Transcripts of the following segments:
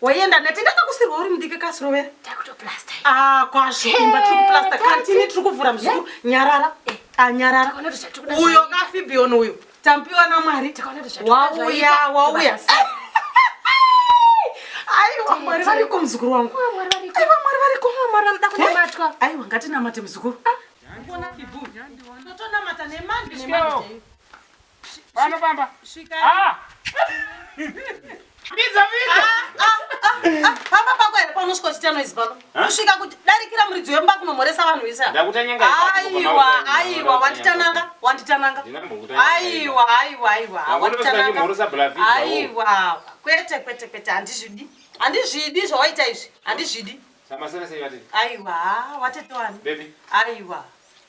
waienda neti ndakakusirwa uri mudiki kasirovera ah, kwazvo imba tiri kuplasta kantini tiri kuvhura muzukuru nyarara eh. anyarara ah, uyo kafibion uyo tampiwa namwari wauya wauya aiwa mwari variko muzukuru wangu aiwa mwari variko mwari vanoda kunamatwa eh? aiwa ngatinamate muzukuru ah. Pano pamba. Svika. Ah. Biza biza. Ah, ah, ah, ah. Pamba pako here paunosvika uchita noise pano. Kusvika kuti darikira muridzi wemba kunomhoresa vanhu vese. Ndakutanyanga. Aiwa, aiwa, wanditananga, wanditananga. Aiwa, aiwa, aiwa, wanditananga. Aiwa. Kwete, kwete, kwete, handizvidi. Handizvidi zvawaita izvi. Handizvidi. Samasana sei vati? Aiwa, watete wani? Baby. Aiwa.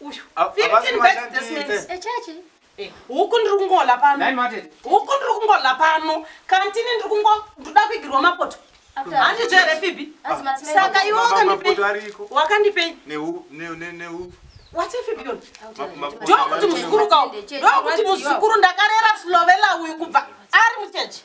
Uyu. 15 bags this means. Echachi. Eh, eh, huku ndiri kungola pano huku ndiri kungola pano kantini ndiri kungo ndoda kuigirwa mapoto handizvo here fibi saka iwe wakandipei wakandipei ndokuti muzukuru kawo ndokuti muzukuru ndakarera slovela uyu kubva ari muchechi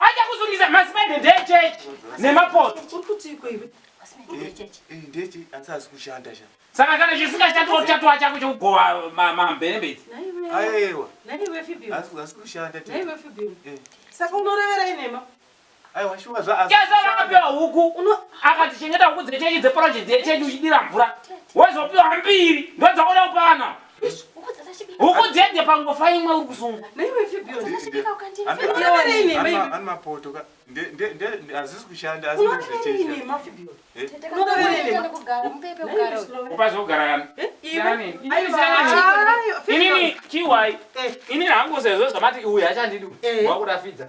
Achakusungisa masipende ndechechi nemapoto. Uri kuti iko iwe? saka kana chisingashandi wotatoa chako chekugova mamberembedzi saka unorevera inema chezavakapiwa huku akatichengeta huku dzechechi dzeproject yechechi uchidira mvura wozopiwa mbiri ndodzaona upana huku dzende pangofa imwe uri kuzunga hazvisi kushanda upazogara inini chiwai inini hangu sezvo zvamati uyu hachandidi wakuda fidza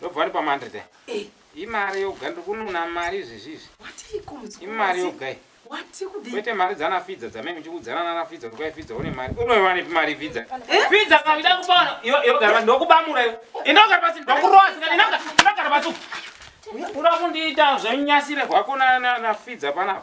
ndobva ndipa mandred aya Eh, imari yoga ndiri kununa mari izvezvizvi watiiko muzukuru imari wazii? yoga iyi Wati kudii? kwete mari dzana fidza dzamai muchikudzana nana fidza kuti kwai fidza une mari unoiwanepi mari fidza fidza kavida kubaona iwe iwe gara pasi ndokubamura iwe inogara pasi ndokurowa sikana inanga inogara pasi uku. unokundiita zvenyasire hwako na- na- na fidza panapa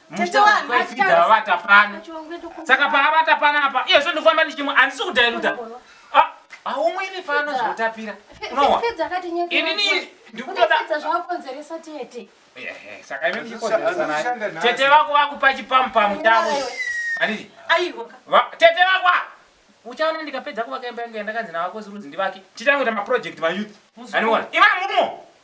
muchitavavata pano saka paavata panapa iye zvondofamba ndichimwe handisi kudairuta ah, haumwiri pano zvotapira unowa inini ndikutoda saka ime ndichikonzeresa tete vako vakupa chipamupamu chavo handiti tete vakwa uchaona ndikapedza kuvaka imba yangu yandakanzi navakosi rudzi ndivake titangoita maproject mayouth andiona ivamumo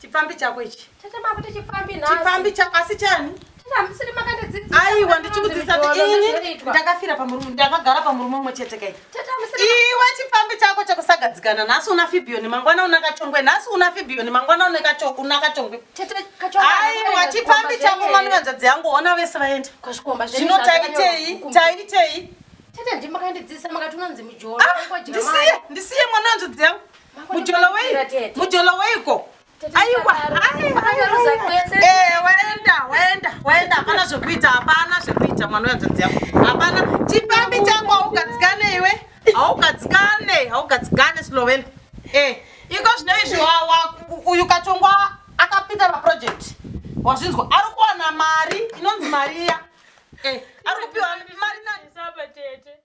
Chipfambi chako ichi. Tete makuti chipfambi nhasi. Chipfambi chako asi chani? aiwa ndichikudzisa kuti ini ndakafira pamurume ndakagara pamurume umwe chete kai iwe chipfambi chako chekusagadzikana nhasi una fibiyoni mangwana una kachongwe nhasi una fibiyoni mangwana una kachongwe aiwa chipfambi chako mwana vanzvadzi yangu ona vese vaenda zvino taitei taitei ah, ndisiye mwana vanzvadzi yangu Mujolo wei? Mujolo weiko? Aiwa, eh, waenda, waenda, waenda. Hapana zvekuita, hapana zvekuita mwana wehanzvadzi yako. Hapana chipambi chako haugadzikane iwe. Haugadzikane, haugadzikane Sloveni. Eh, iko zvino izvi uyu kachongwa akapinda paproject. Wazvinzwa? Ari kuwana mari inonzi Maria. Eh, ari kupiwa mari nani? Saba tete.